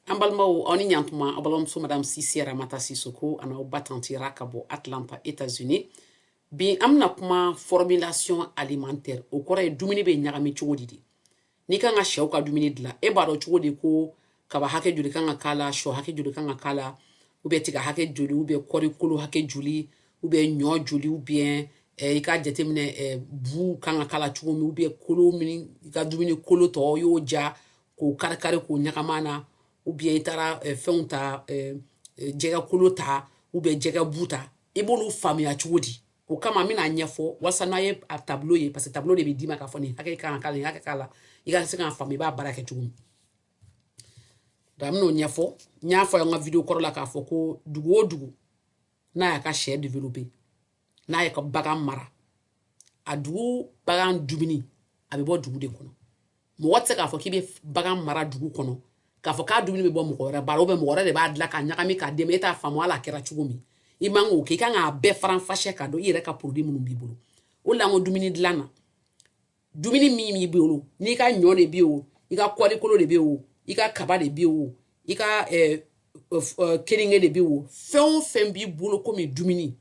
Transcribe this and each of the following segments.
an balimaw aw ni ɲantuma aw balimamuso madame sise ramata sisoko an'aw ba tanti ra ka bɔ atlanta états unis bi an bɛna kuma formulation alimentaire o kɔrɔ ye dumuni bɛ ɲagami cogo di de n'i kan ka shɛw ka dumuni dilan e b'a dɔn cogo di ko kaba hakɛ joli kan ka k'a la shɔ hakɛ joli kan ka k'a la ou bien tiga hakɛ joli ou bien kɔɔri kolo hakɛ joli ou bien ɲɔ joli ou bien eh, i k'a jateminɛ eh, bu kan ka k'a la cogo min ou bien kolo min i ka dumuni kolo tɔ y'o ja k'o karikari k'o ɲagami a na ou bien i taara eh, fɛnw ta eh, eh, jɛgɛ kolo ta ou bien jɛgɛ bu ta i b'olu faamuya cogo di o kama n bɛn'a ɲɛfɔ walasa n'a ye a tableau ye parce que tableau de bɛ d'i ma k'a fɔ nin hakɛ kan ka k'a la nin hakɛ k'a la i ka se k'a faamu i b'a baara kɛ cogo min donc n bɛn'o ɲɛfɔ n y'a fɔ an ka video kɔrɔ la k'a fɔ ko dugu o dugu n'a y'a ka shɛ développer n'a y'a ka bagan mara a dugu bagan dumuni a bɛ bɔ dugu de kɔnɔ mɔgɔ tɛ se k'a fɔ k'i bɛ bagan mara dugu kɔnɔ k'a fɔ k'a dumuni bɛ bɔ mɔgɔ wɛrɛ bara mɔgɔ wɛrɛ de b'a dilan k'a ɲagami k'a d'i ma e t'a faamu a lakɛra cogo min i man k'o kɛ i kan k'a bɛɛ faranfasiya k'a dɔn i yɛrɛ ka produit minnu b'i bolo o la dumuni dilan na dumuni min b'i bolo n'i ka ɲɔ de bɛ yen o i ka kɔɔri kolo de bɛ yen o i ka kaba de bɛ yen o i ka keninge de bɛ yen o fɛn o fɛn b'i bolo komi dumuni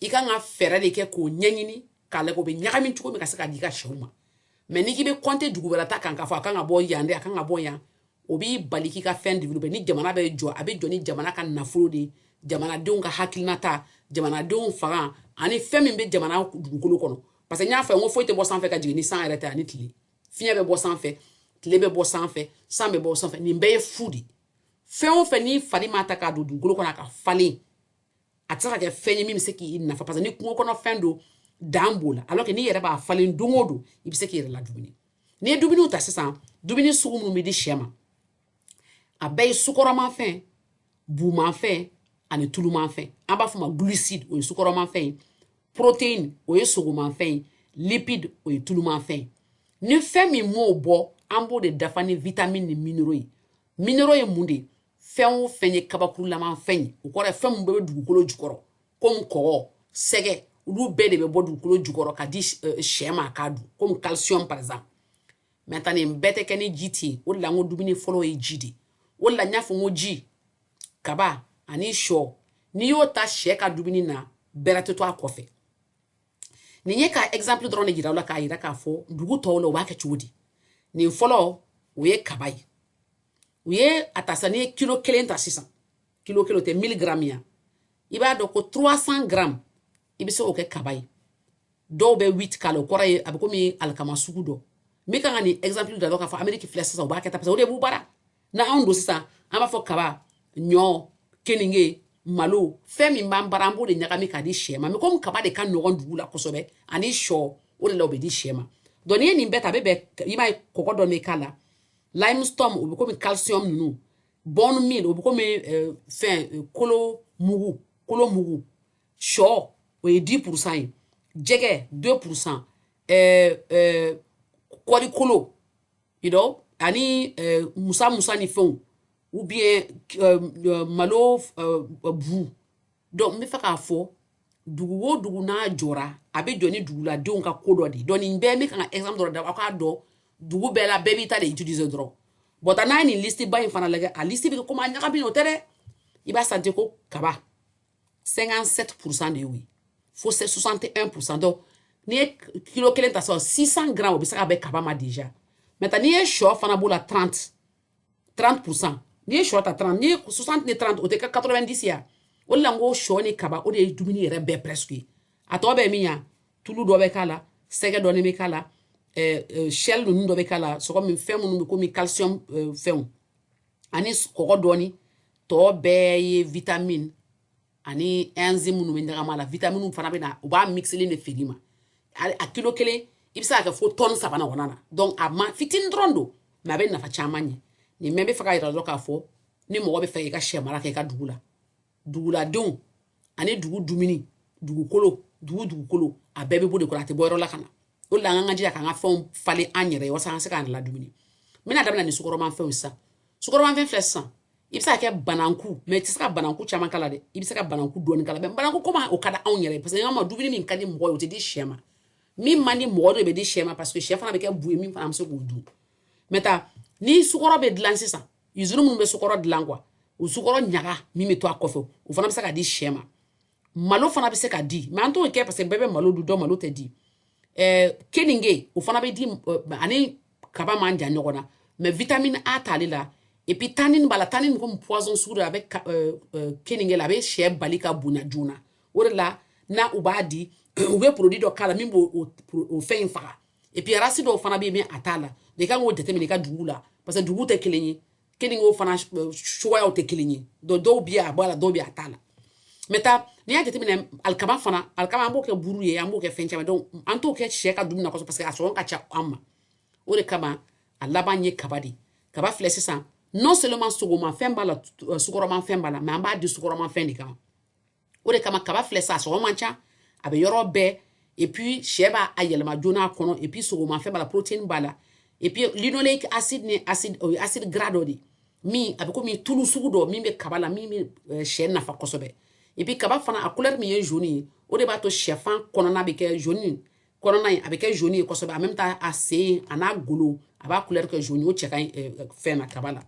i kan ka fɛɛrɛ de kɛ k'o ɲɛɲini k'a lajɛ o bɛ ɲagami cogo min ka se ka d'i ka shɛw ma mais n'i k'i bɛ compter dugu wɛrɛ ta kan k'a fɔ a kan ka bɔ yan de a kan ka bɔ yan o b'i bali k'i ka fɛn developper ni jamana bɛ jɔ a bɛ jɔ ni jamana ka nafolo de ye jamanadenw ka hakilinata jamanadenw fanga ani fɛn min bɛ jamana dugukolo kɔnɔ parce que n y'a fɔ n ko foyi tɛ bɔ sanfɛ ka jigin ni san yɛrɛ tɛ ani tile fiɲɛ bɛ bɔ sanfɛ tile bɛ bɔ sanfɛ san bɛ bɔ sanfɛ nin bɛɛ ye fu de fɛn o fɛn n'i fari m'a ta k'a don dugukolo kɔnɔ a ka falen a tɛ se ka kɛ fɛn ye min bɛ se k'i nafa parce que ni kungo kɔnɔ fɛn don dan b'o la alors que n'i yɛrɛ b'a falen don o don i bɛ se k'i yɛrɛ ladumuni n'i ye dumuniw ta sisan dumuni sugu minnu bɛ di shɛ ma a bɛɛ ye sukɔrɔmafɛn bumafɛn ani tulumanfɛn an b'a fɔ ma glucide o ye sukɔrɔmafɛn ye protéine o ye sogomafɛn ye lipide o ye tulumafɛn ye ni fɛn min m'o bɔ an b'o de dafa ni vitamini ni minéraux ye minéraux ye mun de ye fɛn o fɛn ye kabakurulama fɛn ye o kɔrɔ ye fɛn min bɛɛ bɛ dugukolo jukɔrɔ komi kɔgɔ sɛgɛ olu bɛɛ de bɛ bɔ dugukolo jukɔrɔ ka di eh, shɛ ma k'a dun komi calcium par exemple maintenant nin bɛɛ tɛ kɛ ni ji tɛ yen o de la n ko dumuni fɔlɔ ye ji de ye o de la n y'a fɔ n ko ji kaba ani shɔ n'i y'o ta shɛ ka dumuni na bɛrɛ tɛ to a kɔfɛ nin ye ka exemple dɔrɔn de jira aw la k'a jira k'a fɔ dugu tɔw la u b'a kɛ cogo di nin fɔlɔ o ye kaba ye u ye a ta sisan n'i ye kilo kelen ta sisan kilo kelen o tɛ 1000 gramme ye wa i b'a dɔn ko 300 gramme i bɛ se k'o kɛ kaba ye dɔw bɛ wheat k'a la o kɔrɔ ye a bɛ komi alikama sugu dɔ n bɛ kan ka nin exemple da dɔ k'a fɔ ameriki filɛ sisan u b'a kɛ tan parce que o de b'u bara na anw don sisan an b'a fɔ kaba ɲɔ keninge malo fɛn min b'an bara an b'o de ɲagami k'a di sɛ ma mɛ komi kaba de ka nɔgɔn dugu la kosɛbɛ ani sɔ o de la o bɛ di sɛ ma donc n'i ye nin bɛɛ ta a bɛ bɛn i b'a ye kɔgɔ dɔ bɛ k'a la limestone o bɛ komi calcium ninnu bone meal o bɛ komi eh, fɛn eh, kolo mugu kolo mugu sɔ o ye dix pourcent ye jɛgɛ deux pourcent ɛɛ ɛɛ kɔɔri kolo you know ani ɛɛ musa musa ni fɛnw ou bien ɛɛ malo ɛɛ bu donc n bɛ fɛ k'a fɔ dugu o dugu n'a jɔra a bɛ jɔ ni duguladenw ka ko dɔ de ye donc nin bɛɛ n bɛ kan ka exemple dɔ da aw k'a dɔn dugu bɛɛ la bɛɛ b'i ta de utiliser dɔrɔn but n'a ye nin liste ba in fana lajɛ a liste bɛ kɛ komi a ɲagami o tɛ dɛ i b'a jate ko kaba 57% de oui. fo ka se 61% donc n'i ye kilo kelen ta sisan 600 grammes o bɛ se ka bɛn kaba ma déjà maintenant n'i ye sɔ fana b'o la 30 30 pourcent n'i ye sɔ ta 30 n'i ye 60 ni 30 o tɛ kɛ 90 ye a o de la n ko sɔ ni kaba o de ye dumuni yɛrɛ bɛɛ presque ye a tɔ bɛ min ya tulu dɔ bɛ k'a la jɛgɛ dɔɔni bɛ k'a la ɛɛ shell ninnu dɔ bɛ k'a la sɔgɔ min fɛn minnu bɛ komi calcium fɛnw ani kɔgɔ dɔɔni tɔ bɛɛ ye vitamine ani enzyme minnu bɛ ɲagam'a la vitamine fana bɛ na u b'a mixelen de feere i ma a kilo kelen i bɛ se k'a kɛ fo tɔni saba ɲɔgɔnna na donc amount fitinin dɔrɔn don mais a bɛ nafa caman ɲɛ nin mɛ n bɛ fɛ k'a yira dɔrɔn k'a fɔ ni mɔgɔ bɛ fɛ i ka sɛ mara kɛ i ka dugu la duguladenw ani dugu dumuni dugukolo dugu dugukolo a bɛɛ bɛ bɔ de kɔrɔ a tɛ bɔ yɔrɔ la ka na o de la an kan ka jija k'an ka fɛnw falen an yɛrɛ ye walasa an ka se k'an ladumuni n bɛna daminɛ ni sukɔrɔmafɛnw sisan sukɔrɔmafɛn filɛ sisan i bɛ se ka kɛ bananku mɛ i tɛ se ka bananku caman k'a la dɛ i bɛ se ka bananku dɔɔni k'a la mɛ bananku komi o ka di anw yɛrɛ ye parce que an ka dumuni min ka di mɔgɔ ye o tɛ di sɛ ma min man di mɔgɔ de bɛ di sɛ ma parce que sɛ fana bɛ kɛ bu ye min fana bɛ se k'o dun maintenant ni sukɔrɔ bɛ dilan sisan izini minnu bɛ sukɔrɔ dilan quoi o sukɔrɔ ɲaga min bɛ to a kɔfɛ o fana bɛ se ka di sɛ ma malo fana bɛ se ka di mɛ an t'o kɛ parce que bɛɛ bɛ malo dun donc malo tɛ di ɛɛ keninge o fana bɛ di a ni kaba man jan ɲɔgɔn na mɛ vitamine A t'ale la et puis tannin b'a la tannin komi poison sugu dɔ a bɛ keninge la a bɛ sɛ bali ka bonya joona o de la ni u b'a di u bɛ produit dɔ k'a la min b'o o fɛn in faga et puis a race dɔw fana bɛ yen a t'a la i kan k'o jateminɛ i ka dugu la parce que dugu tɛ kelen ye keningew fana cogoyaw tɛ kelen ye donc dɔw bɛ a b'a la dɔw bɛ a t'a la maintenant n'i y'a jateminɛ alikama fana alikama an b'o kɛ buru ye an b'o kɛ fɛn caman donc an t'o kɛ sɛ ka dumuni na kosɛbɛ parce que a sɔngɔ ka ca an ma o de kama a laban ye kaba de ye kaba filɛ sisan non seulement sogomafɛn b'a la sukɔrɔmafɛn b'a la mɛ an b'a di sukɔrɔmafɛn de kama o de kama kaba filɛ sa sɔngɔ man ca a bɛ yɔrɔ bɛɛ et puis sɛ b'a a yɛlɛma joona a kɔnɔ et puis sogomafɛn b'a la protéine b'a la et puis linoleique acide ni acide o ye acide gras dɔ de ye min a bɛ komi tulu sugu dɔ min bɛ kaba la min bɛ euh, sɛ nafa kosɛbɛ et puis kaba fana a couleur min ye jaune ye o de b'a to sɛfan kɔnɔna bɛ kɛ jaune kɔnɔna ye a bɛ kɛ jaune ye kosɛbɛ en même temps a sen a n'a golo a b'a couleur kɛ jaune o cɛ ka ɲi euh, fɛn na kaba la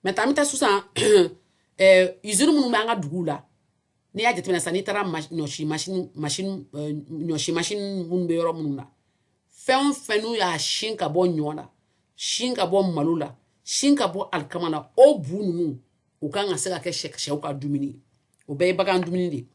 maintenant an bɛ taa sisan izini minnu bɛ an ka duguw la n'i y'a jateminɛ sisan n'i taara ɲɔsi masini masini ɲɔsi masini minnu bɛ yɔrɔ minnu na fɛn o fɛn n'u y'a sin ka bɔ ɲɔ la sin ka bɔ malo la sin ka bɔ alikama la o bu ninnu u kan ka se ka kɛ sɛw ka dumuni o bɛɛ ye bagan dumuni de ye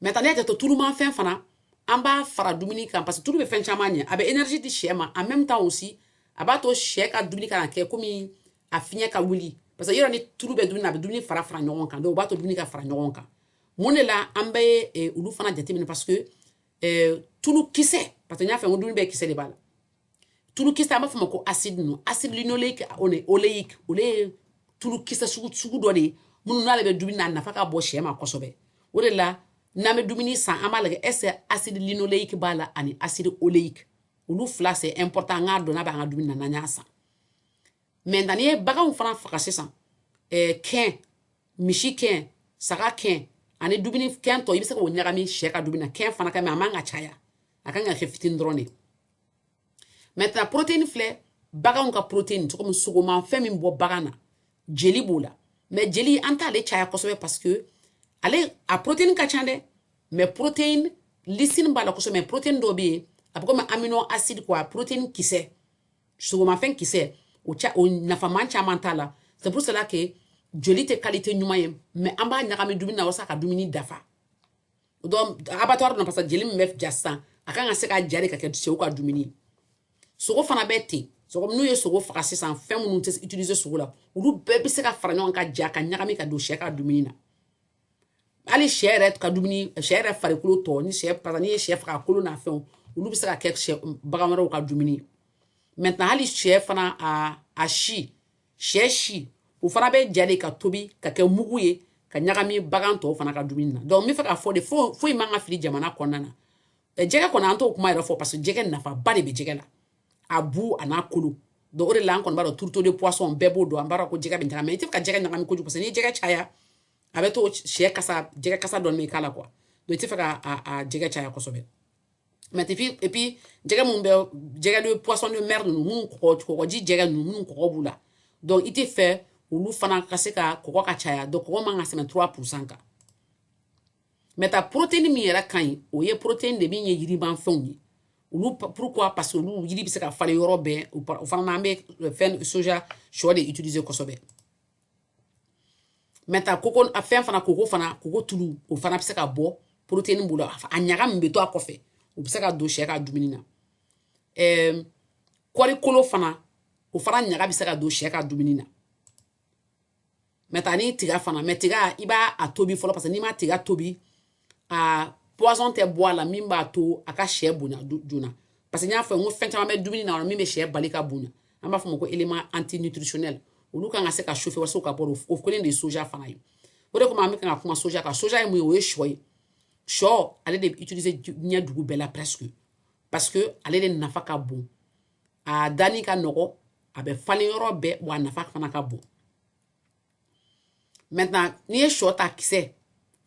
maintenant kɛn tɔ tulumafɛn fana an b'a fara dumuni kan parce que tulu bɛ fɛn caman ɲɛ a bɛ énergie di sɛ ma en même temps aussi a b'a to sɛ ka dumuni kana kɛ komi a fiɲɛ ka wuli parce que yɔrɔ ni tulu bɛ dumuni na a bɛ dumuni fara fara ɲɔgɔn kan donc o b'a to dumuni ka fara ɲɔgɔn kan mun de la an bɛ eh, olu fana jateminɛ parce que eh, tulu kisɛ parce que n y'a fɔ n ko dumuni bɛɛ kisɛ de b'a la tulukisɛ an b'a fɔ a ma ko acide ninnu acide linoleique oleique olu ye tulukisɛ sugu dɔ de ye minnu n'ale bɛ dumuni na a nafa ka bon sɛ ma kosɛbɛ o de la n'an bɛ dumuni san an b'a lajɛ est-ce que acide linoleique b'a la ani acide oleique olu fila c'est important an k'a dɔn n'a b'an ka dumuni na n'an y'a san maintenant n'i ye baganw fana faga sisan ɛɛ eh, kɛn misi kɛn saga kɛn ani dumuni kɛn tɔ i bɛ se k'o ɲagami sɛ ka dumuni na kɛn fana ka mais a man ka caya a kan ka kɛ fitini dɔrɔn de ye maintenant protéine filɛ baganw ka protéine cogo min sogomafɛn min bɔ bagan na jeli b'o la mais jeli an t'ale caya kosɛbɛ parce que ale a protéine ka ca dɛ mais protéine lysine b'a la kosɛbɛ mais protéine dɔ bɛ yen a bɛ komi amino acide quoi protéine kisɛ sogomafɛn kisɛ o ca o nafama caman t'a la c'est pour cela que joli tɛ qualité ɲuman ye mais an b'a ɲagami dumuni na walasa ka dumuni dafa donc abattoir na parce que jeli min bɛ ja sisan a kan ka se ka ja de ka kɛ sɛw ka dumuni ye sogo fana bɛ ten sogo n'u ye sogo faga sisan fɛn minnu tɛ utiliser sogo la olu bɛɛ bɛ se ka fara ɲɔgɔn kan ka ja ka ɲagami ka don sɛ ka dumuni na hali sɛ yɛrɛ ka dumuni sɛ yɛrɛ farikolo tɔ ni sɛ pasa n'i ye sɛ faga kolo n'a fɛnw olu bɛ se ka kɛ sɛ bagan wɛrɛw ka dumuni ye maintenant hali sɛ fana a a si sɛ si o fana bɛ ja de ka tobi ka kɛ mugu ye ka ɲagami bagan tɔw fana ka dumuni na donc n bɛ fɛ k'a fɔ de foyi man ka fili jamana kɔnɔna na jɛgɛ kɔni an t'o kuma yɛrɛ fɔ parce que jɛgɛ nafaba de bɛ jɛgɛ la a bu a n'a kolo donc o de la an kɔni b'a dɔn tourteau de poisson bɛɛ b'o dɔn an b'a dɔn ko jɛgɛ bɛ ɲagami mais i tɛ ka jɛgɛ ɲagami kojugu parce que n'i ye jɛgɛ caya a b'a to sɛ kasa jɛgɛ kasa dɔɔni bɛ k'a la quoi donc i tɛ fɛ ka a jɛgɛ caya kosɛbɛ maintenant et puis jɛgɛ minnu bɛ jɛgɛ de poisson de mer ninnu minnu kɔgɔ kɔgɔji jɛgɛ ninnu minnu kɔgɔ b'u la donc i tɛ fɛ olu fana ka se ka kɔgɔ ka caya donc kɔgɔ man ka tɛmɛ 3 pourcent kan maintenant protéine min yɛrɛ ka ɲi o ye protéine de min ye yirimafɛnw ye olu pourquoi parce que olu yiri bɛ se ka falen yɔrɔ bɛɛ o fana na an bɛ fɛn soja sɔ de utiliser kosɛbɛ maintenant koko a fɛn fana koko fana koko tulu o fana bɛ se ka bɔ protéine b'o la a ɲaga min bɛ to a kɔfɛ o bɛ se ka don sɛ ka dumuni na ɛɛ kɔri kolo fana o fana ɲaga bɛ se ka don sɛ ka dumuni na maintenant ni tiga fana mais tiga i b'a a tobi fɔlɔ parce que n'i ma tiga tobi aa poison tɛ bɔ a la min b'a to a ka sɛ bonya joona parce que n y'a fɔ n ko fɛn caman bɛ dumuni na min bɛ sɛ bali ka bonya an b'a fɔ o ma ko élément antinutritionnel olu kan ka se ka chauffer walasa u ka bɔ o kelen de ye soja fana ye o de kama an bɛ kan ka kuma soja kan soja ye mun ye o ye sɔ ye sɔ ale de bɛ utiliser diɲɛ dugu bɛɛ la presque parce que ale de nafa ka bon a danni ka nɔgɔ a bɛ falen yɔrɔ bɛɛ wa a nafa fana ka bon maintenant n'i ye sɔ ta kisɛ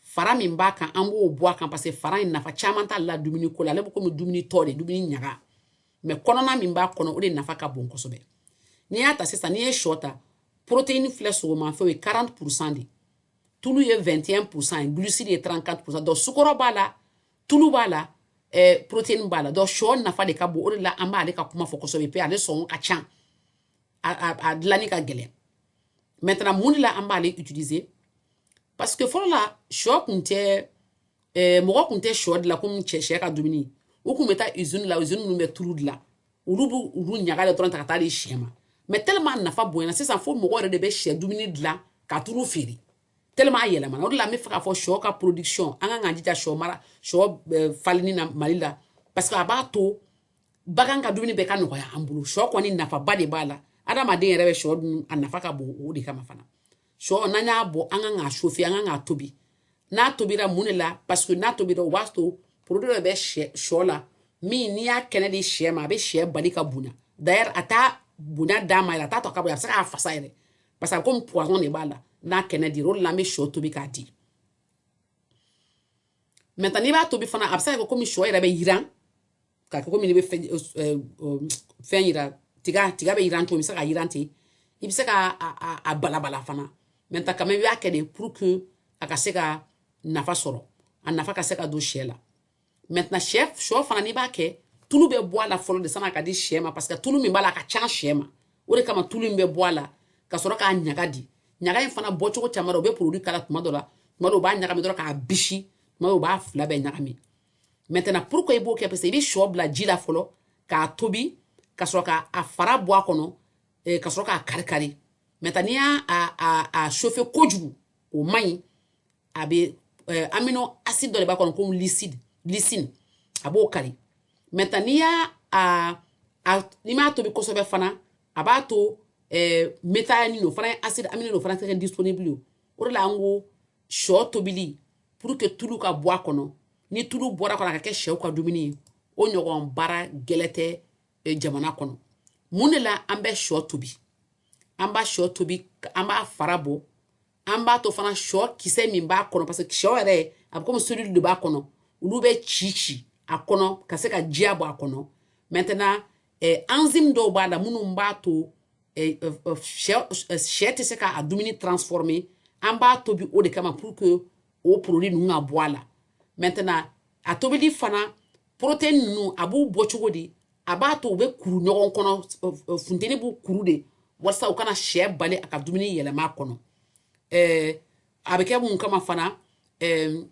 fara min b'a kan an b'o bɔ a kan parce que fara in nafa caman t'ale la dumuni ko la ale bɛ komi dumuni tɔ de dumuni ɲaga mais kɔnɔna min b'a kɔnɔ o de nafa ka bon kosɛbɛ n'i y'a ta sisan n'i ye sɔ ta protéine filɛ sogomafɛnw ye 40 pourcent ye tulu ye 21 pourcent ye glucide ye 34 pourcent donc sukɔrɔ b'a la tulu b'a la eh, protéine b'a la donc sɔ nafa de ka bon o de la an b'ale ka kuma fɔ kosɛbɛ mais ale sɔngɔ ka ca a dilanni ka gɛlɛn maintenant mun de la an b'ale utiliser parce que fɔlɔ la sɔ kun tɛ eh, mɔgɔ kun tɛ sɔ dilan komi cɛ sɛ ka dumuni u kun bɛ taa usine la usine minnu bɛ tulu dilan olu b'u olu ɲaga de dɔrɔn ta ka taa di sɛ ma mais tellement a nafa bonyana sisan fo mɔgɔ yɛrɛ de bɛ sɛ dumuni dilan ka tulu feere tellement a yɛlɛmana o de la an bɛ fɛ k'a fɔ sɔ ka production an kan k'an jija sɔ mara sɔ eh, falenni na mali la parce que a b'a to bagan ka dumuni bɛɛ ka nɔgɔya an bolo sɔ kɔni nafaba de b'a la adamaden yɛrɛ bɛ sɔ dun a nafa ka bon o de kama fana sɔ n'an y'a bɔ an kan k'a chauffer an kan k'a tobi n'a tobira mun de la parce que n'a tobira o b'a to produit dɔ bɛ sɔ la min n'i y'a kɛnɛ di sɛ ma a bɛ sɛ bali ka bonya d'ailleurs a tɛ bonya d'a ma yɛrɛ a t'a to a ka bonya a bɛ se k'a fasa yɛrɛ parce que a bɛ komi poison de b'a la n'a kɛnɛ dira o de la an bɛ sɔ tobi k'a di maintenant n'i b'a tobi fana a bɛ se ka kɛ komi sɔ yɛrɛ bɛ yiran k'a kɛ komi ne bɛ fɛn fɛn yiran tiga tiga bɛ yiran cogo i bɛ se ka yiran ten i bɛ se ka a balabala fana maintenant quand même i b'a kɛ de pour que a ka se ka nafa sɔrɔ a nafa ka se ka don sɛ la maintenant sɛ sɔ fana n'i b'a kɛ tulu bɛ bɔ a la fɔlɔ de san'a ka di sɛ ma parce que tulu min b'a la a ka ca sɛ ma o de kama tulu in bɛ bɔ a la ka sɔrɔ k'a ɲaga di ɲaga in fana bɔcogo caman u bɛ produit k'a la tuma dɔ la tuma dɔ u b'a ɲagami dɔrɔn k'a bisi tuma dɔ u b'a fila bɛɛ ɲagami maintenant pourquoi i b'o kɛ parce que i bɛ sɔ bila ji la fɔlɔ k'a tobi ka sɔrɔ ka a fara bɔ a kɔnɔ eh, ka sɔrɔ k'a kari kari maintenant n'i y'a a a a chauffer kojugu o man ɲi a bɛ eh, amino acide dɔ de b'a kɔnɔ komi liside lysine a b'o kari maintenant n'i y'a a a n'i m'a tobi kosɛbɛ fana a b'a to eh, méthionine o fana ye acide aminé o fana tɛ kɛ disponible ye o de la an ko sɔ tobili pour que tulu ka bɔ a kɔnɔ ni tulu bɔra a kɔnɔ a ka kɛ sɛw ka dumuni ye o ɲɔgɔn baara gɛlɛn tɛ eh, jamana kɔnɔ mun de la an bɛ sɔ tobi an b'a sɔ tobi an b'a fara bɔ an b'a to fana sɔ kisɛ min b'a kɔnɔ parce que sɔ yɛrɛ a bɛ komi cellule de b'a kɔnɔ olu bɛ ci ci a kɔnɔ ka se ka jiya bɔ a kɔnɔ maintenant eh, enzyme dɔw b'a la minnu b'a to eh, eh, eh sɛ eh, sɛ tɛ se k'a dumuni transformer an b'a tobi o de kama pour que o produit ninnu ka bɔ a la maintenant a tobili fana protéine ninnu a b'u bɔ cogo di a b'a to u bɛ kuru ɲɔgɔn kɔnɔ funteni b'u kuru de walasa u kana sɛ bali a ka dumuni yɛlɛma a kɔnɔ ɛɛ a bɛ kɛ mun kama fana ɛɛ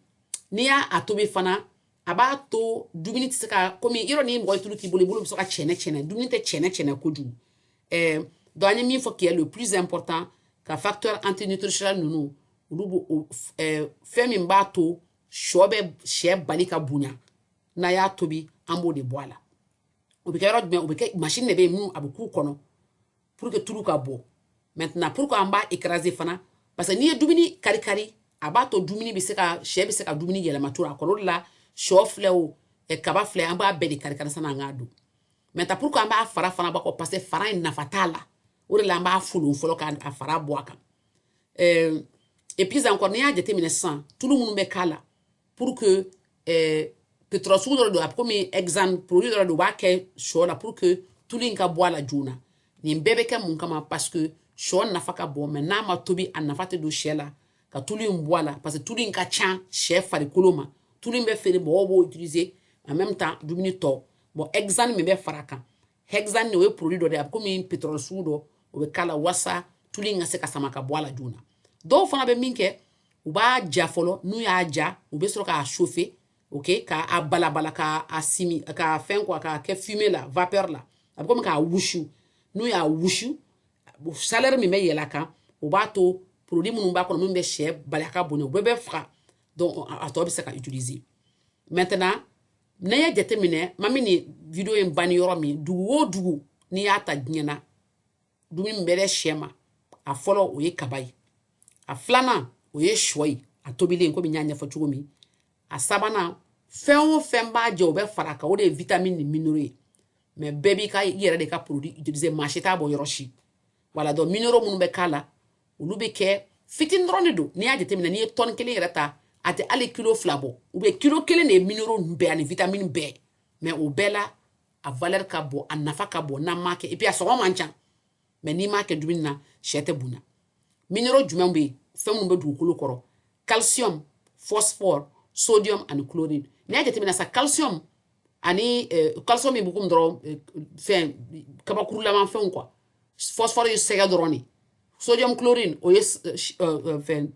n'i y'a a tobi fana a b'a to dumuni tɛ se ka komi yɔrɔ ni mɔgɔ ye tulu k'i bolo i bolo bɛ se ka cɛnɛ cɛnɛ dumuni tɛ cɛnɛ cɛnɛ kojugu ɛɛ donc an ye min fɔ qui est le plus important ka facteur antinutritionnel ninnu olu bɔ ɛɛ fɛn min b'a to sɔ bɛ sɛ bali ka bonya n'an y'a tobi an b'o de bɔ a la o bɛ kɛ yɔrɔ jumɛn o bɛ kɛ machine de bɛ yen minnu a bɛ k'u kɔnɔ pour que tulu ka bɔ maintenant pour que an b'a écraser fana parce que n'i ye dumuni kari kari a b'a to dumuni bɛ se ka sɛ bɛ se ka dumuni yɛlɛma cogo a kɔrɔ de la sɔ filɛ o kaba filɛ an b'a bɛɛ de kari kari sanni an k'a dun maintenant pour que an b'a fara fana bɔ a kɔ parce que fara in nafa t'a la o de la an b'a folon fɔlɔ k'a fara bɔ a kan et puis encore n'i y'a jateminɛ sisan tulu minnu bɛ k'a la pour que eh, pétrole sugu dɔ don a komi hexane produit dɔ don u b'a kɛ sɔ la pour que tulu in ka bɔ a la joona nin bɛɛ bɛ kɛ mun kama parce que sɔ nafa ka bon mais n'a ma tobi a nafa tɛ don sɛ la ka tulu in bɔ a la parce que tulu in ka ca sɛ farikolo ma tulu in bɛ feere mɔgɔw b'o utiliser en même temps dumuni tɔ bon hexane min bɛ fara a kan hexane o ye produit dɔ de ye a bɛ komi pétrole sugu dɔ o bɛ k'a la wasa tulu in ka se ka sama ka bɔ a la joona dɔw fana bɛ min kɛ u b'a ja fɔlɔ n'u y'a ja u bɛ sɔrɔ k'a chauffer ok ka a balabala ka a simi ka fɛn quoi k'a kɛ fumée la vapeur la a bɛ komi k'a wusu n'u y'a wusu chaleur min bɛ yɛlɛ a kan o b'a to produit minnu b'a kɔnɔ minnu bɛ sɛ bali a ka bonya u bɛɛ bɛ faga donc a tɔ bɛ se ka utiliser maintenant n'a y'a jateminɛ ma min nin video in banni yɔrɔ min dugu o dugu n'i y'a ta diɲɛ na dumuni min bɛ di sɛ ma a fɔlɔ o ye kaba ye a filanan o ye sɔ ye a tobilen komi n y'a ɲɛfɔ cogo min a sabanan fɛn o fɛn b'a jɛ o bɛ fara kan o de ye vitamini ni minéraux ye mais bɛɛ b'i ka i yɛrɛ de ka produit utiliser maa si t'a bɔ yɔrɔ si voilà donc minéraux minnu bɛ k'a la olu bɛ kɛ fitini dɔrɔn de don n'i y'a jateminɛ n'i ye tɔni kelen yɛrɛ ta a tɛ hali kilo fila bɔ u bɛ kilo kelen de ye minéraux ninnu bɛɛ ani vitamini bɛɛ mais o bɛɛ la a valɛri ka bon a nafa ka bon n'an m'a kɛ et puis a sɔngɔ man ca mais n'i m'a kɛ dumuni na sɛ tɛ bonya minéraux jumɛn bɛ yen fɛn minnu bɛ dugukolo kɔrɔ calcium phosphore sodium ani chlorine n'i y'a jateminɛ sa calcium ani eh, calcium bukum dɔrɔn eh, fɛn kabakurulaman fɛnw quoi phosphore ye sɛgɛ dɔrɔn de sodium chlorine o ye eh, fɛn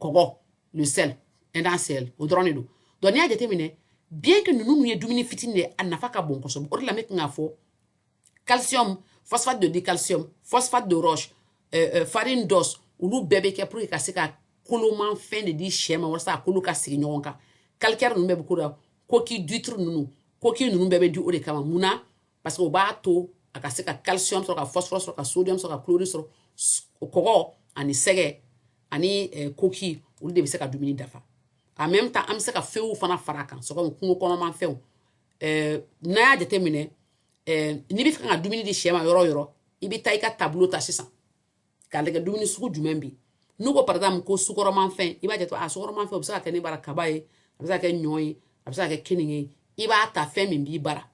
kɔgɔ le sel ɛndan sel o dɔrɔn de don donc n'i y'a jateminɛ bien que ninnu ye dumuni fitini de ye a nafa ka bon kosɛbɛ o de la ne tun k'a fɔ calcium phosphate de dicalcium phosphate de roche euh, euh, farine d'os olu bɛɛ bɛ kɛ pour que ka se ka koloman fɛn de di sɛ ma walasa a kolo ka sigi ɲɔgɔn kan calcaire ninnu bɛɛ bɛ k'o la coquille d'huître ninnu coquille ninnu bɛɛ bɛ di o de kama mun na parce que o b'a to a ka se ka calcium sɔrɔ ka phosphore sɔrɔ ka sodium sɔrɔ ka chlorine sɔrɔ kɔgɔ ani sɛgɛ ani eh, coquille olu de bɛ se ka dumuni dafa en même temps an bɛ se ka fɛn fana fara a kan sɔgɔma kungo kɔnɔma fɛnw eh, n'a y'a jateminɛ eh, n'i bɛ fɛ ka dumuni di sɛ ma yɔrɔ yɔrɔ i bɛ taa i ka tableau ta sisan k'a lajɛ dumuni sugu jumɛn bɛ n'u ko par exemple ko sukaromafɛn i b'a jate a sukaromafɛn o bɛ se ka kɛ ne bara kaba ye a bɛ se ka kɛ ɲɔ ye a bɛ se ka kɛ keninge ye i b'a ta fɛn min b'i bara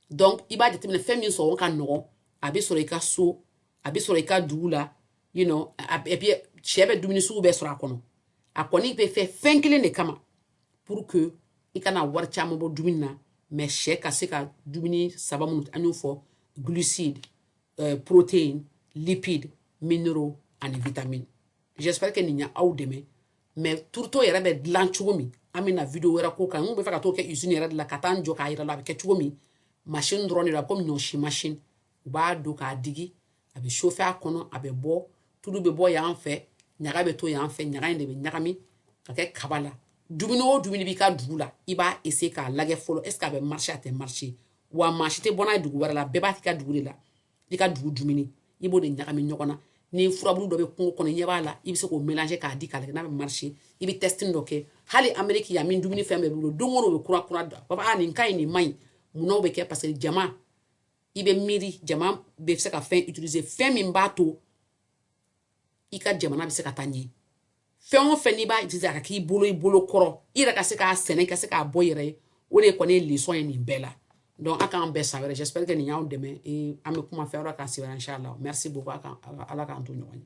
donc i b'a jateminɛ fɛn min sɔngɔ ka nɔgɔn a bɛ sɔrɔ i ka so a bɛ sɔrɔ i ka dugu la you know et puis sɛ bɛ dumuni sugu bɛɛ sɔrɔ a kɔnɔ a kɔni bɛ fɛ fɛn kelen de kama pour que i kana wari caman bɔ dumuni na mais sɛ ka se ka dumuni saba minnu an y'o fɔ glucide euh, protéine lipide minéraux ani vitamine j'espère que nin y'aw dɛmɛ mais tourteau yɛrɛ bɛ dilan cogo min an bɛna video wɛrɛ k'o kan n bɛ fɛ ka t'o kɛ usine yɛrɛ de la ka taa n jɔ k'a yira la a bɛ kɛ cogo min machine dɔrɔn de la komi ɲɔsi machine u b'a don k'a digi a bɛ chauffer a kɔnɔ a bɛ bɔ tulu bɛ bɔ yan fɛ ɲaga bɛ to yan fɛ ɲaga in de bɛ ɲagami ka kɛ kaba la dumuni o dumuni b'i ka dugu la i b'a essayer k'a lajɛ fɔlɔ est-ce a bɛ marcher a tɛ marcher wa maa si tɛ bɔ n'a dugu wɛrɛ la bɛɛ b'a' ka dugu de la i ka dugu dumuni i b'o de ɲagami ɲɔgɔn na ni furabulu dɔ bɛ kungo kɔnɔ ɲɛ b'a la i bɛ se k'o mélanger k'a di k'a lajɛ n'a bɛ marcher i bɛ testing dɔ kɛ hali Amérique yan min dumuni fɛn bɛɛ bolo don o don u bɛ kura kura da b'a nin ka ɲi nin man ɲi mun na o bɛ kɛ parce que jama i bɛ miiri jamana bɛ se ka fɛn utiliser fɛn min b'a to i ka jamana bɛ se ka taa ɲɛ fɛn o fɛn n'i b'a utiliser a ka k'i bolo i bolo kɔrɔ i yɛrɛ ka se k'a sɛnɛ ka se k'a bɔ yɛrɛ ye o de kɔni ye leçon ye nin bɛɛ la donc a k'an bɛn san wɛrɛ j'espère que nin y'aw dɛmɛ an bɛ kuma fɛn wɛrɛ kan sigira inchallah merci beaucoup a kan ala k'an to ɲɔgɔn ye